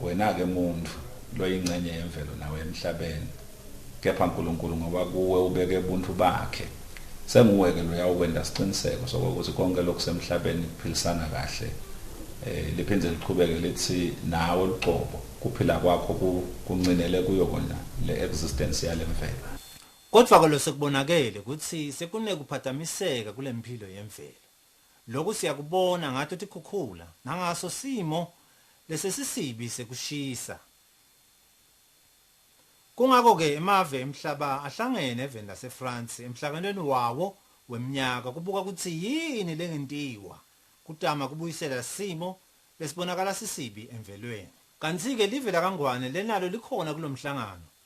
Wena ke muntu loyingcenye yemvelo nawe emhlabeni kepha Nkulunkulu ngoba kuwe ubeke ubuntu bakhe senguwe ke loya okwenda siqiniseko sokuthi konke lokusemhlabeni kuphilisana kahle eh liphinde liqhubeke lithi nawe luqobo kuphila kwakho kuncinele kuyo kona le existence yalemvelo Kodwa ke losekubonakele ukuthi sekunekuphatamiseka kulemphilo yemvelo. Loku siyakubona ngato tikhukhula nangaso simo lesesisibi sekushisa. Kungako ke emave emhlaba ahlangene even nase France emhlanganweni wawo wemnyaka kubuka kutsi yini lengentiwa kutama kubuyisela simo lesibonakala sisibi emvelweni. Kanti ke live lakaNgwane lenalo likhona kulomhlangano.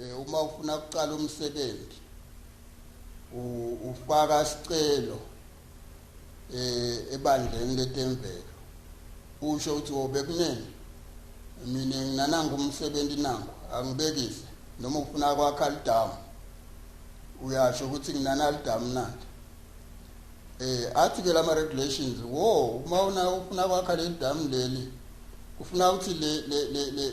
Eh, uma ufuna ukuqala umsebenzi ufaka isicelo eh ebandleni letemvelo usho ukuthi wobekunene mina nginananga umsebenzi nangu angibekise noma ufuna kwakha lidamu uyasho ukuthi nginana lidamu nani eh athi ke lama regulations wo uma una ufuna kwakha leli damu leli kufuna ukuthi le le le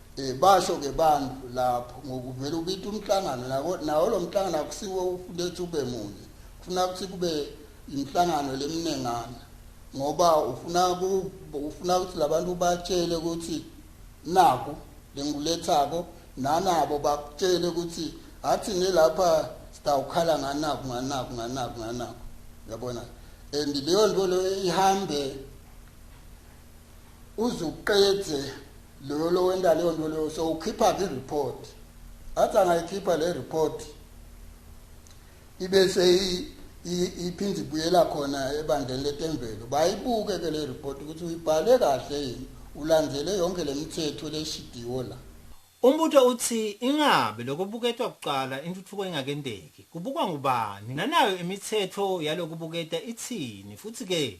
Eh basho ke bantu lapho ngokuvela ubita umhlangano nako nawo lo mhlangano akusiwo ufunde ukuthi ube munye. Kufuna ukuthi kube inhlangano leminengana ngoba ufuna ufuna ukuthi labantu batshele ukuthi naku lengulethako nanabo bakutshele ukuthi athi nelapha sitawukhala nganaku nganaku nganaku nganaku yabona and leyo nto leyo ihambe uzuqedze loyo lo wenta leyo nto leyo so ukhipha ke report athi angayikhipha le report ibe seyi iphinde ibuyela khona ebandleni letemvelo bayibuke ke le report ukuthi uyibhale kahle yini ulandele yonke le mithetho leshidiwo la Umbutho uthi ingabe lokubuketwa kuqala intuthuko ingakendeki, kubukwa ngubani, nanayo imithetho yalokubuketa ithini, futhi-ke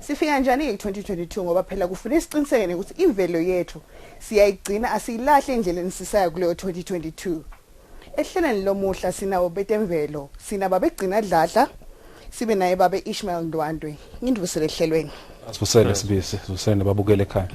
Sifika njani ke 2022 ngoba phela kufanele siqiniseke ukuthi imvelo yethu siyayigcina asiyilahli endleleni sisaya kuleyo 2022. Ehlelweni lomuhla sinawo betemvelo, sina babegcina dladla, sibe naye babe Ishmael Ndwandwe. Ngindvusele ehlelweni. Asivusele sibisi, sivusele nababukele ekhaya.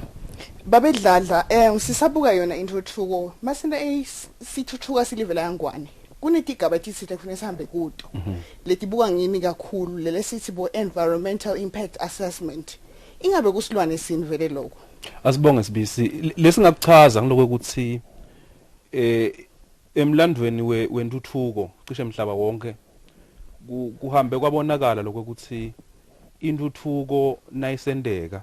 Babedladla eh sisabuka yona intuthuko. Masina eh sithuthuka silivela yangwane. kunetigaba etitsite kufanele sihambe kuto mhm. letibuka ngimi kakhulu lele sithi bo environmental impact assessment ingabe kusilwane sini vele lokho asibonge sibisi lesingakuchaza ngiloko ukuthi eh emlandweni wentuthuko cishe emhlaba wonke kuhambe kwabonakala lokho ukuthi intuthuko nayisendeka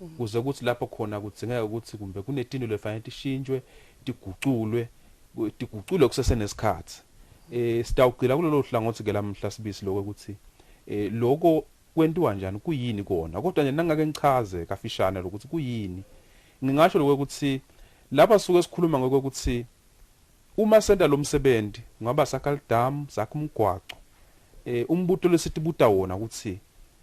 Mm. kuze kuthi lapho khona kudzingeka ukuthi kumbe kunetinto lefanele tishintshwe tiguculwe tiguculwe kusesenesikhathi eh sitawugcila kulelo hlangothi ke lamhla sibisi lokho ukuthi eh lokho kwentiwa njani kuyini kona kodwa nje nangake ngichaze kafishane lokuthi kuyini ngingasho lokho ukuthi lapha suke sikhuluma ngokho ukuthi uma senta lo msebenzi ngaba sakha lidam sakha umgwaco eh umbutho lesithi buta wona ukuthi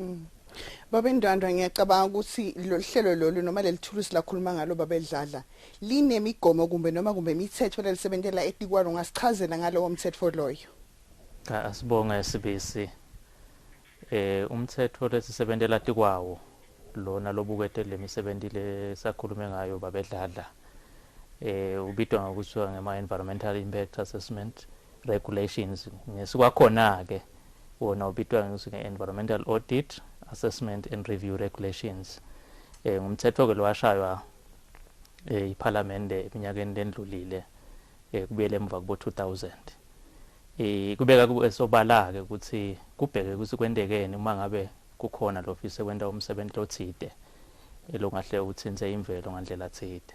Mm. Babe Ndwandwa ngiyacabanga ukuthi lolu hlelo lolu noma leli thulusi lakhuluma ngalo babe Dladla linemigomo kumbe noma kumbe imithetho lelisebenzela etikwalo ngasichazela ngalowo mthetho loyo. Cha asibonga esibisi. Eh umthetho lesisebenzela tikwawo lona lobukete lemisebenzi lesakhulume ngayo babe Dladla. Eh ubitwa ngokuthiwa ngema environmental impact assessment regulations ngesikwakhona-ke wona ubitwa nge-environmental audit assessment and review regulations um eh, ngumthetho-ke lowashaywa um eh, iphalamende eminyakeni lendlulile um eh, kubuyele emuva kubo-2000 um kubeka sobala-ke ukuthi kubheke ukuthi kwentekeni uma ngabe kukhona lo fise kwenta umsebenzi lothide elongahle uthinte imvelo ngandlela thide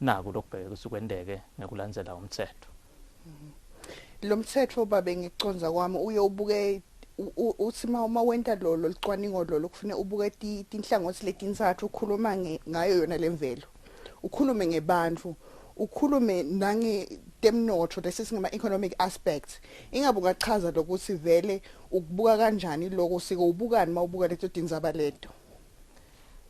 Naku lokubheka usukwendeke ngekulandzela umtsetfo. Lo mtsetfo babe ngikuconza kwami uye ubuke uthi uma wenta lolo licwaningo lolo kufune ubuke tinhlangothi letintsathu ukhuluma ngayo yona lemvelo ukhulume ngebantu ukhulume nangetemnotho lesi singama-economic aspects ingabe ungachaza lokuthi vele ukubuka kanjani loko sike ubukani uma ubuka leto tindzaba leto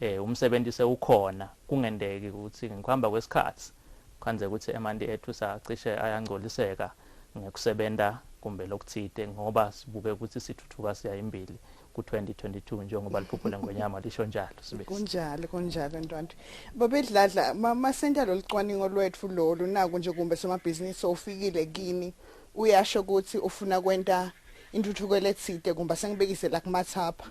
Eh umsebenzi sewukhona kungendeki ukuthi ngokuhamba kwesikhathi kwanze ukuthi emanti ethu sacishe ayangcoliseka ngekusebenza kumbe lokuthide ngoba sibuke ukuthi sithuthuka siya imbili ku-2022 njengoba liphupho lengonyama lisho njalo kunjalo kunjalo ntwanto babedladla masentsha lolu cwaningo lwethu lolu naku nje kumbe somabhizinisi ofikile kini uyasho ukuthi ufuna kwenta intuthuko elethide kumbe sengibekise la kumathapha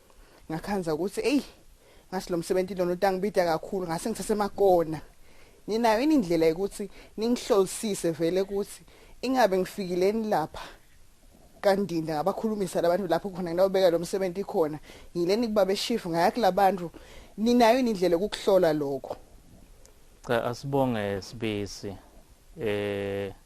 ngakhanza ukuthi eyi ngasi lo msebenzi lona utangibida kakhulu ngase ngisasemakona ninayo ini indlela yokuthi ningihlolisise vele ukuthi ingabe ngifikileni lapha kandinda ngabakhulumisa labantu lapho khona nginawubeka lo msebenzi khona ngileni kuba beshifu ngaya kulabantu ninayo ini indlela yokuhlola lokho cha asibonge sibisi eh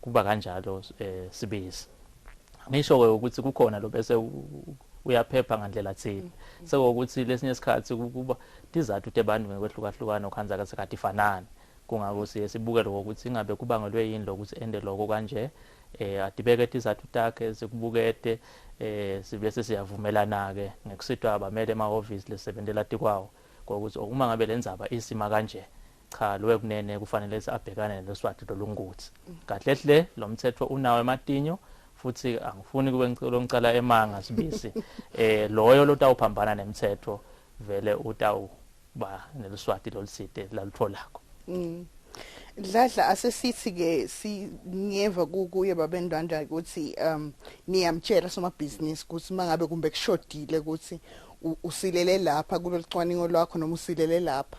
kuba kanjalo eh, sibisi ngisho ke ukuthi kukhona lo bese uyaphepha ngandlela thile mm. sekuwukuthi lesinye isikhathi kuba tizathu tebantu ngokwehlukahlukana okhanza kasekhathi fanani kungako siye sibuke lokho ukuthi ingabe kubangelwe yini lokuthi ende lokho kanje eh adibeke tizathu takhe sikubukete eh sibese siyavumelana ke ngekusitwa abamele emahhovisi lesebenzela tikwawo ngokuthi uma ngabe lenzaba isima kanje cha lowe kunene kufanele abhekane neloswati lolunguthi kahle hle lo mthetho unawo ematinyo futhi angifuni kube ngicela ngicela emanga sibisi eh loyo lotawuphambana nemthetho vele utawu ba neliswati loliside lalutholako mm. Dladla asesithi ke singeva kuye babendwanda ukuthi um niyamtshela somabhizinisi ukuthi mangabe kumbe kushodile ukuthi usilele lapha kulolicwaningo lwakho noma usilele lapha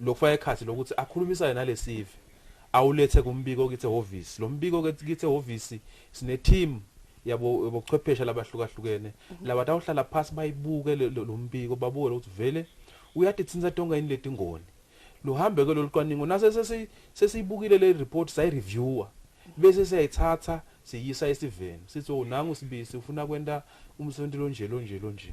lokufaka ekhathi lokuthi akhulumisane nalesive awulethe kumbiko kithi ehhovisi lo mbiko ke kithi ehhovisi sine team yabo bochwephesha labahlukahlukene mhm. laba tawuhlala phansi bayibuke lo mbiko babuke ukuthi vele uyadithinsa tonke yini letingoni luhambe ke lolu cwaningo nase sesiyibukile le report sayi reviewer mhm. bese siyayithatha siyisa esiveni sithi oh nangu sibisi ufuna kwenta umsebenzi lonje lonje lonje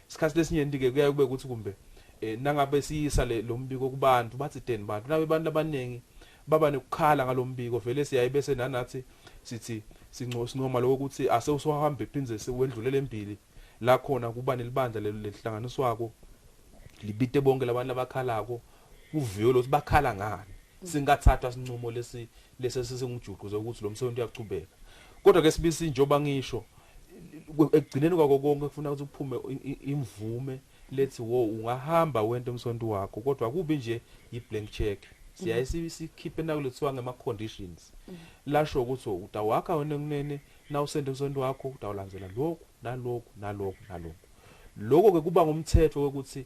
Isikhathi lesinyenti-ke kuyaye kube ukuthi kumbe eh, nangabe siyisa le, lo mbiko kubantu bathi deni bantu nabe abantu abaningi baba nekukhala ngalo mbiko vele siyaye bese nanathi sithi sinco- sincoma lokho ukuthi ase usuhambe phindze sewendlulele embili la khona kuba nelibandla le- lelihlanganiswako libite bonkhe labantu labakhalako kuviwe lokuthi bakhala ngani singathatha sinqumo lesi lesi sesengujuqu zokuthi lo msebenzi uyaqhubeka kodwa ke sibisi njoba ngisho ekugcineni kwako konke kufuna ukuthi kuphume imvume lethi wo ungahamba wento umsonto wakho kodwa kubi nje yiblank check siyaye sikhiphe nakulothiwa ngema conditions lasho ukuthi utawakha wena kunene nawusende umsonto wakho utawulandzela lokhu nalokhu nalokhu nalokhu lokho ke kuba ngumthetho ukuthi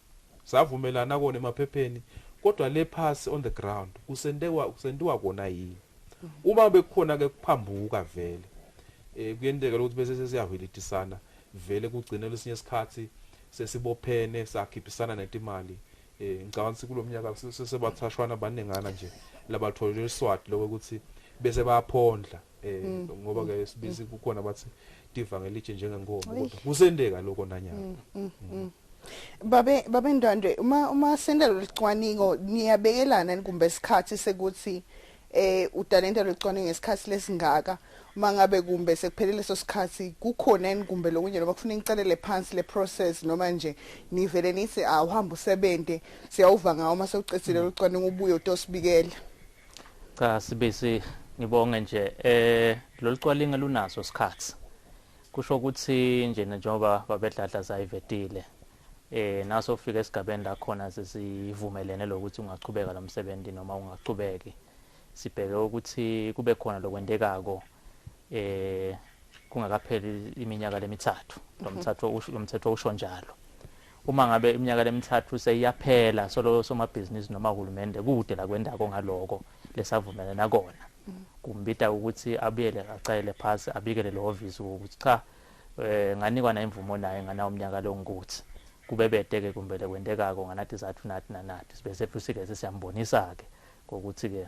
Savumelana kona emaphepheni kodwa le phasi on the ground kusentewa kusentiwa kona yini. Uma bekukhona ke kuphambuka vele eh kuyenteka ukuthi bese sesiyahwilitisana vele kugcine lesinye isikhathi sesibophene sakhiphisana netimali eh ngicabanga ukuthi kulomnyaka sesebathashwana baningana nje labatholele iswati lokho ukuthi bese bayaphondla eh mm. ngoba ke mm. sibizi mm. kukhona bathi divangelije njengenkomo kodwa kusendeka lokho nanyana babe babe ndwandwe uma uma senda licwaningo niyabekelana kumbe isikhathi sekuthi eh utalenta licwaningo ngesikhathi lesingaka mangabe kumbe sekuphelele leso sikhathi kukhona yini kumbe lokunye noma kufuna incelele phansi le process noma nje nivele nithi awuhamba usebenze siyawuva ngawo uma sewucethile locwaningo ubuye utosibikela Cha sibisi ngibonge nje eh lolu cwalinga lunaso isikhathi. Kusho ukuthi nje njengoba babedladla zayivetile eh naso ufika esigabeni la khona sesivumelene lokuthi ungaqhubeka lo msebenzi noma ungaqhubeki. Sibheke ukuthi kube khona lokwentekako eh kungakapheli iminyaka lemithathu. Lo mthatho lo mthetho usho njalo. Uma ngabe iminyaka lemithathu seyiyaphela solo somabhizinisi noma uhulumende kude la kwendako ngaloko lesavumelana nakona kumbita ukuthi abuyele acayele phasi abikele lehhovisi ukuthi cha eh nganikwa na imvumo naye ngana umnyaka lo ngikuthi kube bede ke kumbe lekwendekako nganathi zathu nathi nanathi sibe sethu sike sesiyambonisa ke ngokuthi ke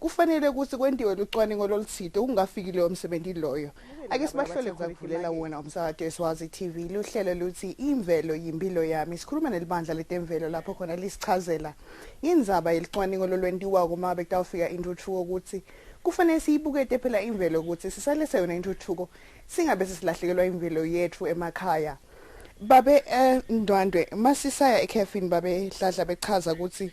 Kufanele ukuthi kwentiwe lucwaningo loluthide ukungafiki leyo msebenzi loyo. Ake sibahlole kuvulela wona umsakato eSwazi TV luhlelo luthi imvelo yimpilo yami. Sikhuluma nelibandla letemvelo lapho khona lisichazela indzaba yelicwaningo lolwentiwa kuma bekutawufika intuthuko ukuthi kufanele siyibukete phela imvelo ukuthi sisalese yona intuthuko singabe sisilahlekelwa imvelo yethu emakhaya. Babe eh, Ndwandwe masisaya ekhefini babe Dladla bechaza ukuthi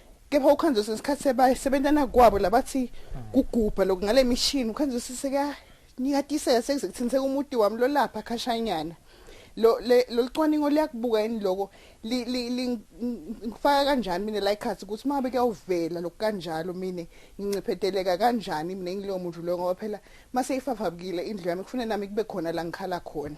kepha ukhanzi kwesinye isikhathi sebasebentana kwabo labathi kugubha lokhu ngale mishini ukhanzi usise kuyanyikatiseka sekuze kuthiniseka umuti wami lolapha khashanyana lo lolicwaningo liyakubuka yini loko ngifaka kanjani mina la ikhathi ukuthi uma bekuyawuvela lokhu kanjalo mina ngincipheteleka kanjani mina ngilowo muntu loyo ngoba phela uma seyifafabukile indlu yami kufanele nami kube khona la ngikhala khona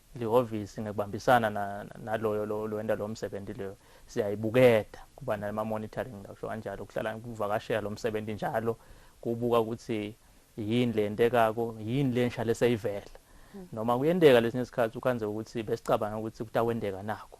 lihhovisi ngekubambisana naloyo lowenda lo msebenzi leyo siyayibukeda kuba nama-monitoring ngisho kanjalo kuhlala kuvakashela lo msebenzi njalo kubuka ukuthi yini le ntekako yini le nshale seyivela hmm. noma kuyenteka lesinye isikhathi ukhanze ukuthi besicabanga ukuthi kutakwenteka nakho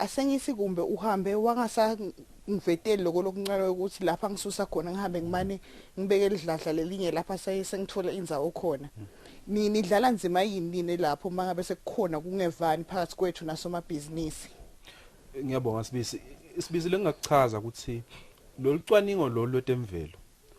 Asengithi kumbe uhambe wangasangveteli loko lokuncane ukuthi lapha ngisusa khona ngihambe ngimane ngibeke lidladla lelinye lapha saye sengithola indzawo khona. Ni nidlala nzima yini nine lapho mangabe sekukhona kungevani phakathi kwethu nasomabhizinisi? Ngiyabonga Sibisi. Sibisi lengingakuchaza ukuthi lolu cwaningo lolu lwetemvelo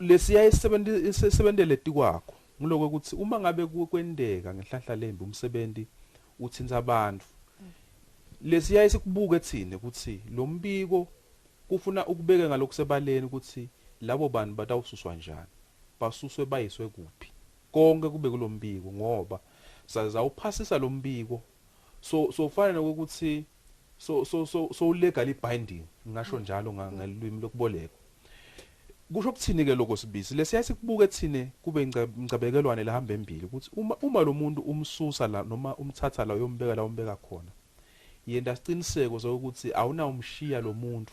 lesiya esebentele tikwakho ngiloko ukuthi uma ngabe kwendeka ngenhlahla lembi umsebenzi uthinta abantu lesiya esikubuke thina ukuthi lo mbiko kufuna ukubeke ngalokusebaleni ukuthi labo bantu batawususwa njani basuswe bayiswe kuphi konke kube kulombiko ngoba saza uphasisa lombiko So so kufana nokuthi so so so so legally binding ngasho njalo ngalwimi lokubolekwa. Kusho ukuthini ke lokho sibisi lesiya sikubuke thine kube ingcabekelwane lehamba embili ukuthi uma uma lo muntu umsusa la noma umthatha la uyombeka la umbeka khona. Yenda siqiniseko sokuthi awunawumshiya lo muntu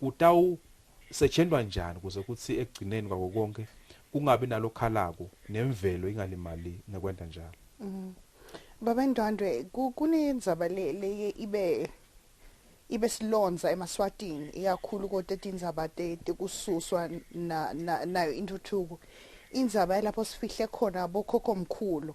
kutawusetshentwa njani kuze kuthi ekugcineni kwako konke kungabi nalokhalako nemvelo ingalimali ngekwenta njalo mm. Baba Ndwandwe kunenzaba le leye ibe ibe silonza emaswatini ikakhulu kodwa etindzaba tekususwa nayo intuthuko indzaba yalapho sifihle khona bokhokho mkhulu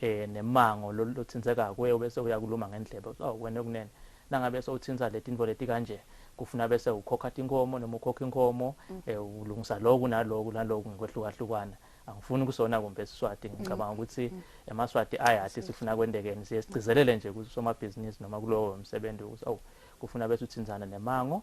eh nemango loluthinzeka kuwe bese uyakuluma ngendlebe so wena kunene nangabe sowuthinza letinto leti kanje kufuna bese ukhokha tinkomo noma ukhokha inkomo mm. eh ulungisa lokhu nalokhu nalokhu ngekwehlukahlukana angifuni kusona kumbe siswati ngicabanga mm. ukuthi mm. emaswati ayathi sifuna kwendekeni siye sigcizelele nje kusomabhizinisi noma kulowo msebenzi ukuthi awu kufuna bese uthinzana nemango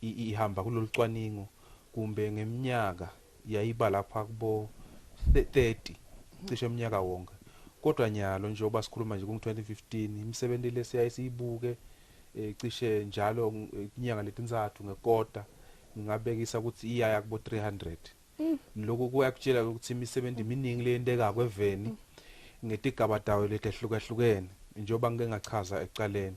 ihamba kulolu cwaningo kumbe ngeminyaka yayiba lapha kubo 30 cishe umnyaka wonke kodwa nyalo njengoba sikhuluma nje kungu-2015 imisebenzi le siyaye siyibuke um cishe njalo eh, inyanga letintsathu ngekota ngingabekisa ukuthi iyaya kubo-300 mm. lokhu kuyakutshela ukuthi imisebenzi miningi leyentekako eveni ngetigaba tayo letehlukahlukene njengoba ngike ngachaza ekuqaleni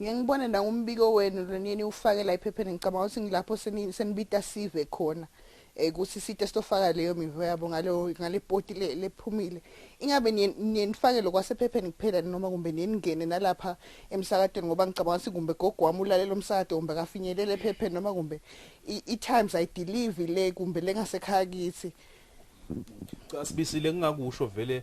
Ngeke ngibone nangumbiko wenu lo niyeniwufake la ephepheni ngicabanga ukuthi ngilapho seni- senibita sive khona um ukuthi site sitofaka leyo mivo yabo ngalo- ngale poti le- lephumile ingabe niye- niye nifake lokwasephepheni kuphela noma kumbe niye ningene nalapha emsakatweni ngoba ngicabanga ukuthi kumbe gogo wami ulalele umsakato kumbe akafinyelele ephepheni noma kumbe i- i-times ayidilivi le kumbe lengasekhaya kithi Cha sibisile ngingakusho vele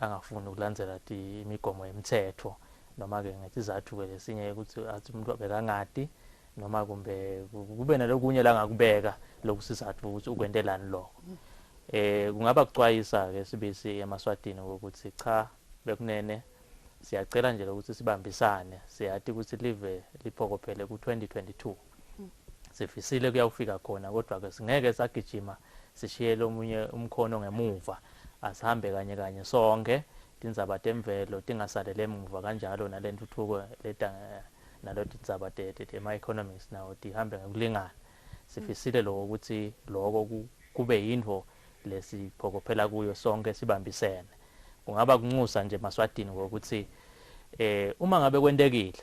angafuni ukulandzela imigomo yemtsetfo noma-ke ngithi izathu-ke lesinye ukuthi athi umuntu bekangati noma kumbe kube nalokunye la ngakubeka lokhu sizathu ukuthi ukwentelani lokho eh kungaba kucwayisa-ke sibisi emaswatini ukuthi cha bekunene siyacela nje lokuthi sibambisane siyathi ukuthi live liphokophele ku-2022 sifisile kuyawufika khona kodwa ke singeke sagijima sishiyele omunye umkhono ngemuva asihambe kanye kanye sonke tindzaba temvelo tingasalele emuva kanjalo nalentuthuko leta nalo tindzaba tema-economics nawo tihambe ngekulingana sifisile loko ukuthi loko kube yinto lesiphokophela kuyo sonke sibambisene kungaba kunxusa nje maswatini ngokuthi eh uma ngabe kwentekile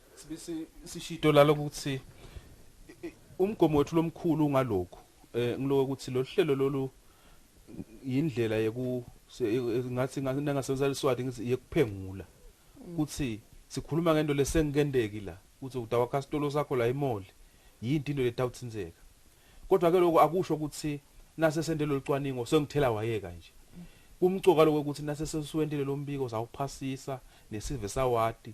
Sibisi sishito lalo ukuthi umgomo wethu lomkhulu ngalokho eh ngiloko ukuthi lo hlelo lolu yindlela yeku ngathi ngingasebenzisa leswati ngithi yekuphengula kuthi sikhuluma ngento lesengikendeki la kuthi udawa customer sakho la emall yinto into letawuthinzeka kodwa ke lokho akusho ukuthi nase sende lolucwaningo sengithela wayeka nje kumcoka lokho ukuthi nase sesiwentile lombiko sawuphasisa nesive sawati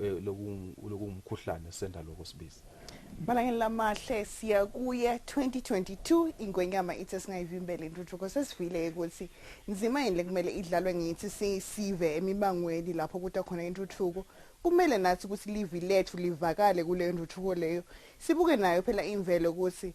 eh, lokungumkhuhlane senda lokho sibiza Malangeni lamahle siya kuye 2022 ingwenyama ithi singayivimbela intuthuko sesivile ukuthi nzima yini lekumele idlalwe ngithi sisive emibangweni lapho kuta khona intuthuko kumele nathi ukuthi livi lethu livakale kule ntuthuko leyo sibuke nayo phela imvelo ukuthi